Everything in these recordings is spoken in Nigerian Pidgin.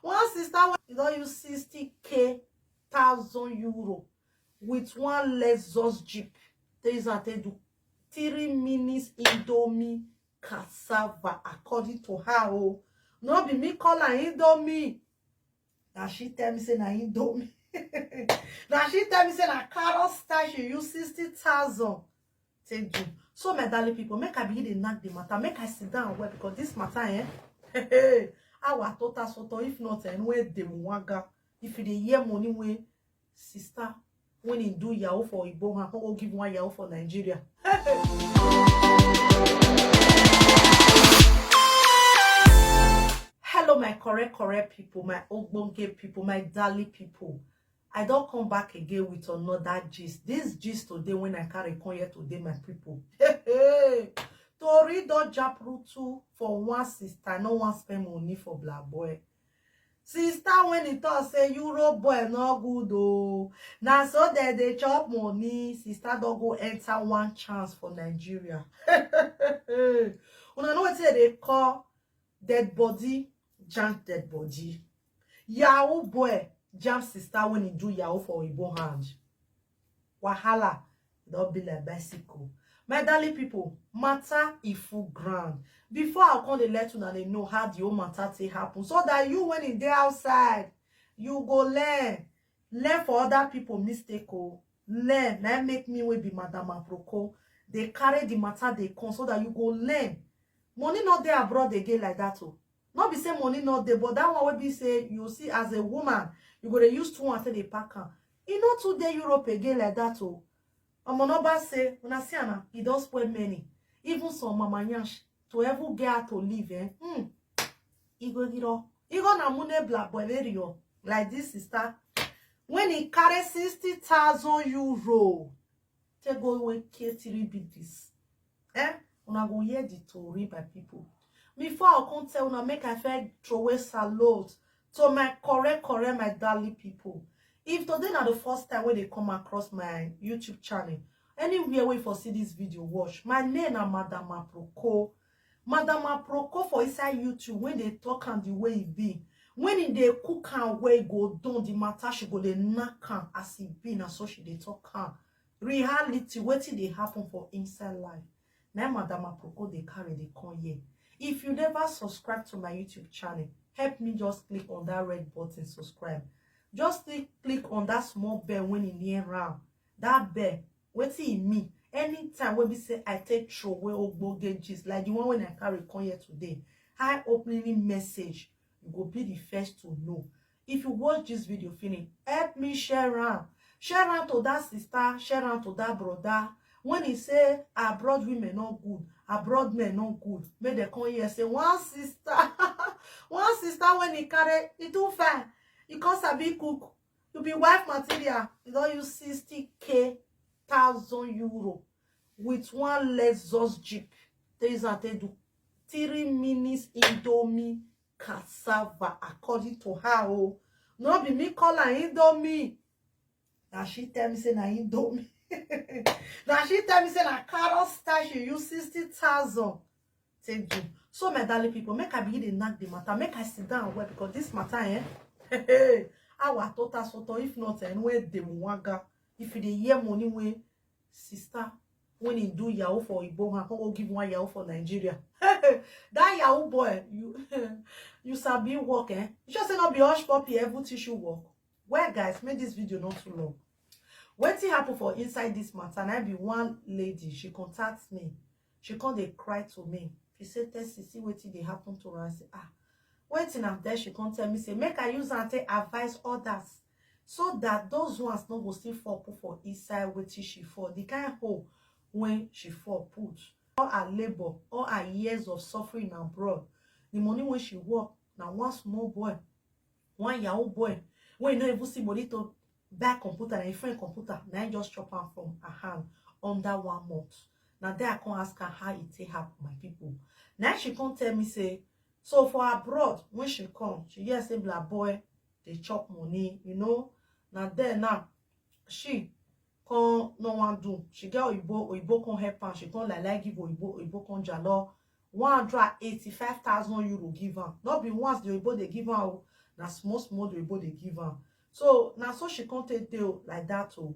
one sister wey don use 60k thousand euro with one lexus jeep take use am take do three minutes indomie cassava according to her o oh. no be me call her indomie na she tell me say na indomie na she tell me say na carrot style she use sixty thousand take do so my darling people make i begin dey knack the matter make i sit down well because this matter eh hey, hey, our total soto if not eh where dey waga if you dey hear money wey sister when he do yahoo for Igbo and go give one yahoo for Nigeria. Hello, my correct, correct people, my ogbonge people, my dally people. I don come back again with another gist. This gist today when I carry come here today, my people. Hey, hey. Tori don jump rutu for one sister, no one spend money for black boy. Sister, when he talk, say Euro boy no good oh. Now so that they chop money, sister don't go enter one chance for Nigeria. Una know what they call Dead body, jam dead body. Yahoo boy, jam sister when he do Yahoo for Igbo hand. Wahala, don't be like bicycle. My darling people, matter if full ground. Before I come the let una dey know how the whole matter take happen. So that you when in there outside, you go learn. Learn for other people mistake. Oh. Learn. Now make me will be Madame Aproko. They carry the matter they come so that you go learn. Money no dey abroad again like that o. No be say money no dey, but that one wey be say you see as a woman, you go dey use two and take dey pack am. E no too dey Europe again like that o. Omo no ba say una see am na, e don spoil many. Even some mama yansh to even get how to live eh. Hmm. Igo giro. Igo na mune bla boilerio like this sister. When he carry 60,000 euro Take go when K3 be this. Eh? Una go hear the tori, my people. Before I come tell una, make I fair throw away salute to my correct, correct, my darling people. If today na the first time when they come across my YouTube channel, anywhere wey for see this video, watch. My name na Madam Aproko. Madam Aproko for inside YouTube when they talk am the way e be. When e dey cook am well, e go done the matter, she go dey knack am as e be, na so she dey talk am. Reality, wetin dey happen for inside life. Na im Madam Aproko dey carry dey come here. If you never subscribe to my YouTube channel, help me just click on that red button, subscribe. Just click click on that small bell when e near am. That bell, wetin e mean? Anytime wey be say I take throway ogbonge gist like the one wey I carry come here today, eye-opening message, you go be the first to know. If you watch this video finish, help me share am. Share am to that sister, share am to that brother. When he say abroad women no good, abroad men no good, make dem come here say one sister, one sister when he carry, he too fine, he come sabi cook, you be wife material you don use 60k thousand euro with one lexus jeep take use am take do three minutes indomie cassava according to her o oh. no be me call am indomie na she tell me say na indomie na she tell me say na carrot style she use sixty thousand take do so my darling people make i begin dey knack the matter make i sit down well because this matter eh hey, our total soto if not eh where dey waga if you dey hear money wey sister when he do yahoo for Igbo and come go give one yahoo for Nigeria. that yahoo boy, you you sabi work, eh? You just say not be hush puppy, every tissue work. Well, guys, make this video not too long. Wetin happen for inside this matter, and I be one lady, she contacts me. She come dey cry to me. She say, Tessie, see wetin dey happen to her. I say, ah, wetin am then she come tell me say make I use am take advise others so that those ones no go still fall put for inside wetin she fall, the kind hole when she fall put. All her labor, all her years of suffering abroad, the money when she work, na one small boy, one yahoo boy, wey no even see money to that computer na im friend computer na im just chop am from her hand under one month na there i come ask her how e take happen my people na she come tell me say so for abroad when she come she hear say black boy dey chop money you know na there now she come no wan do she get oyibo oyibo come help am she come like like give oyibo oyibo come jalo one hundred and eighty five thousand euro give am no be once the oyibo dey give am o na small small the oyibo dey give am so na so she come take dey o like that o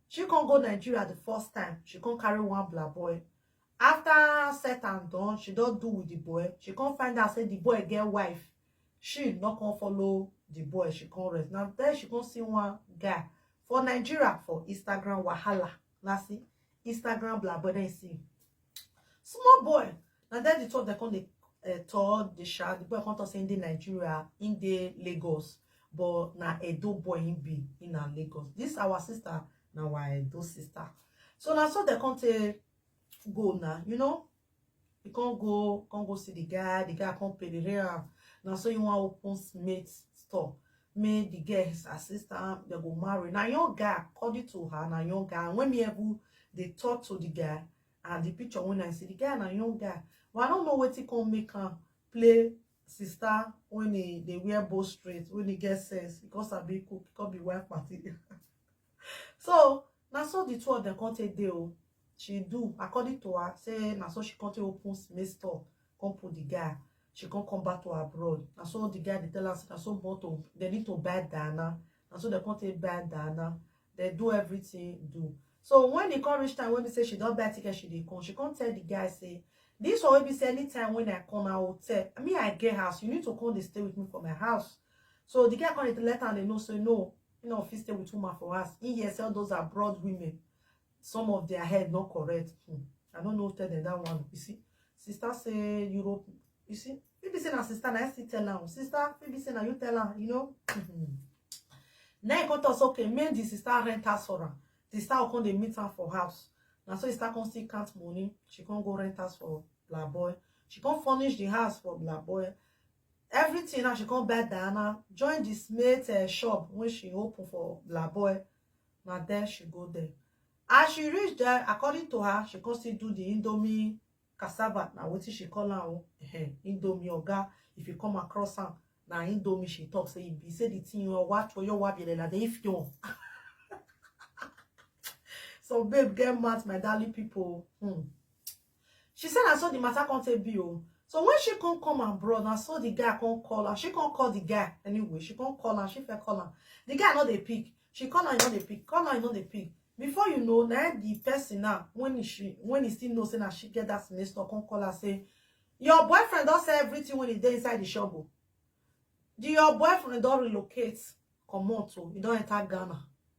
she come go nigeria the first time she come carry one bla boy after set and done she don do with the boy she come find out say the boy get wife she no come follow the boy she come rest na then she come see one guy for nigeria for instagram wahala na see instagram bla boy then see small boy na there the two of them come dey uh, tour the sha the boy come talk say he dey nigeria he dey lagos but na edo boy he be he na lagos this our sister na our edo sister so na so dem come take go na you know he come go come go see the guy the guy come pay the rent na so he wan open mate store make the girl his assistant they go marry na young guy according to her na young guy and when me ever dey talk to the guy and the picture when i see the guy na young guy but i don't know wetin come make am play sister when he dey wear bow straight when he get sense because i be cook he come be wife party so na so the two of them come take dey o she do according to her say na so she come take open cement store come put the guy she come come back to her abroad na so the guy dey tell her say na so born to they need to buy Diana na so they come take buy Diana they do everything do so when e come reach time wey be say she don buy ticket she dey come she come tell the guy say this one wey be say anytime when I come na hotel me I get house you need to come dey stay with me for my house so the guy come dey let am dey know say no You know, fit stay with woman for us. In here, sell those abroad women. Some of their head not correct. Hmm. I don't know tell them that one. You see, sister say Europe. You see, maybe say na sister na I still tell her. Sister, maybe say na you tell her. You know. Hmm. Now you come talk say okay, make the sister rent house for her. The sister will come dey meet her for house. Na so the sister come still count money. She come go rent house for Black Boy. She come furnish the house for Black Boy. everything now she come buy diana join this mate uh, shop when she open for laboy na there she go there as she reach there according to her she come still do the indomie cassava na wetin she call am o indomie oga if you come across am na indomie she talk say e be say the thing your watch for your wife yele na dey if you so babe get mad my darling people hmm. She say na so the matter come take be o. So when she come come abroad, na so the guy come call her. She come call the guy anyway. She come call her. She first call her. The guy no dey pick. She call her, he no dey pick. Call her, he no dey pick. Before you know, na him the person now when he she when he still know say na she get that next door come call her say your boyfriend don sell everything when he dey inside the shop o. The your boyfriend don relocate comot o. He don enter Ghana.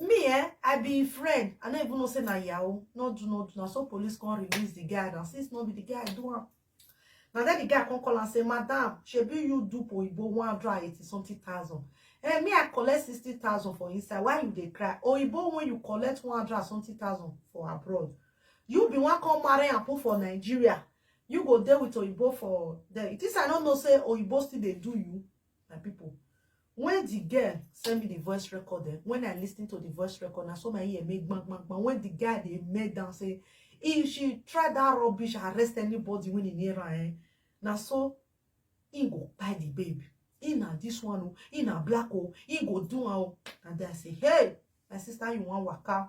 me eh i be im friend i no even know say na yahoo no do no do na so police come release the guy na since no be the guy do am na then the guy come call am say madam shebi you do oyibo one hundred and eighty something thousand eh me i collect sixty thousand for inside why you dey cry oyibo when you collect one hundred and something thousand for abroad you be one come marry and put for nigeria you go dey with oyibo for there it is i no know say oyibo still dey do you my people When the girl send me the voice record, eh, when I listened to the voice record, I saw my ear make bang, bang, bang. When the guy, they made down, say, if she try that rubbish, arrest anybody when in here, eh. Now, so, he go buy the babe. He na this one, oh, he na black, oh, he go do, oh. And then I say, hey, my sister, you want waka?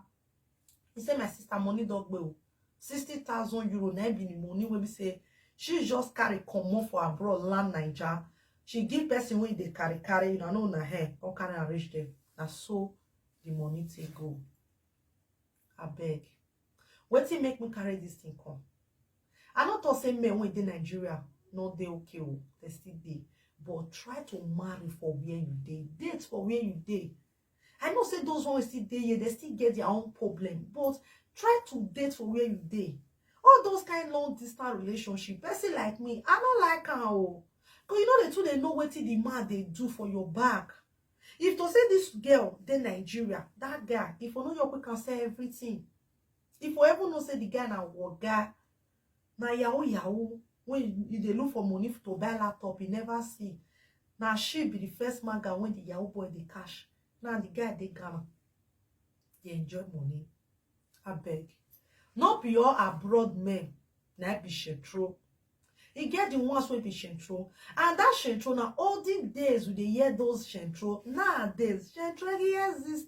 he say my sister money don gbe o sixty thousand euro na be the money wey be say she just carry comot for abroad land naija she give person wey dey carry carry una know na her come carry am reach there na so the money take go abeg wetin make me carry this thing come i no talk say men wey dey nigeria no dey okay o they still dey but try to marry for where you dey date for where you dey I know say those ones still dey here, they still get their own problem. But try to date for where you dey. All those kind long distance relationship, person like me, I don't like am o. Because you know the two they know what the man they do for your back. If to say this girl, dey Nigeria, that guy, if you know your quick can say everything. If you ever know say the guy na waga, Na yahoo yahoo wey e dey look for money to buy laptop e never see. Na she be the first maga wey the yahoo boy dey catch. Now the guy dey Ghana dey enjoy money. Abeg, no be all abroad men na im be shentro. E get the ones wey be shentro and that shentro na olden days we dey hear those shentro. Nowadays, shentro dey exist.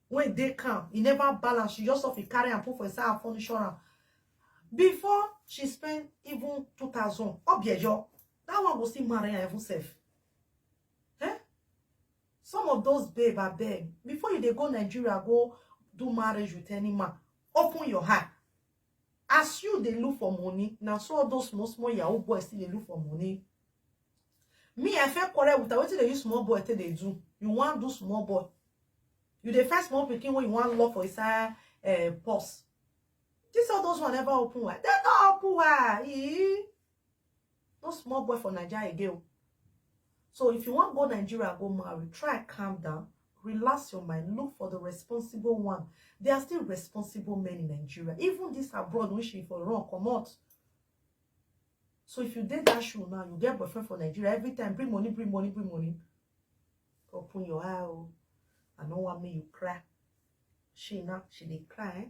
wey dey calm e never balance she just often carry am put for inside her furniture am before she spend even two thousand obiejo that one go still marry her even self eh some of those babe abeg before you dey go nigeria go do marriage with any man open your eye As you dey look for money, na so all those small small yahoo boys still dey look for money. Me, I feel quarrel with her. Wetin dey use small boy take dey do? You wan do small boy? You dey find small pikin wey you wan lock for inside uh, purse. This all those one never open wide. They don't open wide. Ee. no small boy for naija again o so if you wan go nigeria go marry try calm down relax your mind look for the responsible one there are still responsible men in nigeria even this abroad wey she for run comot so if you dey that shoe now you get boyfriend for nigeria every time bring money bring money bring money open your eye o i no wan make you cry she now she dey cry eh?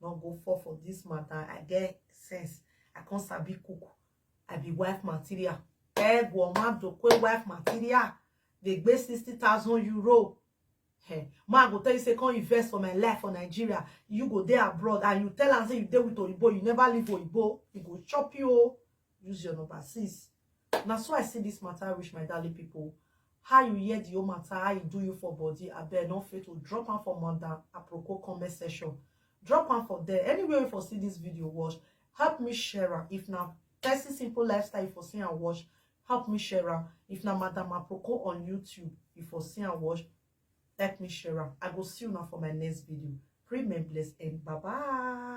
no go fall for this matter i get sense i come sabi cook i be wife material egwo madokwe wife material dey gbé sixty thousand euro Hey, eh, ma go tell you say come invest for my life for nigeria you go there abroad and you tell am say you dey with oyibo you never leave oyibo e go chop you o oh. use your number sis na so i see this matter reach my darling people how you hear the whole matter how e do you for body abeg no fail to drop am for madam aproko comment section drop am for there anywhere you for see this video watch help me share am if na person simple lifestyle you for see and watch help me share am if na madam aproko on youtube you for see and watch help me share am i go see you now for my next video remain blessed and bye bye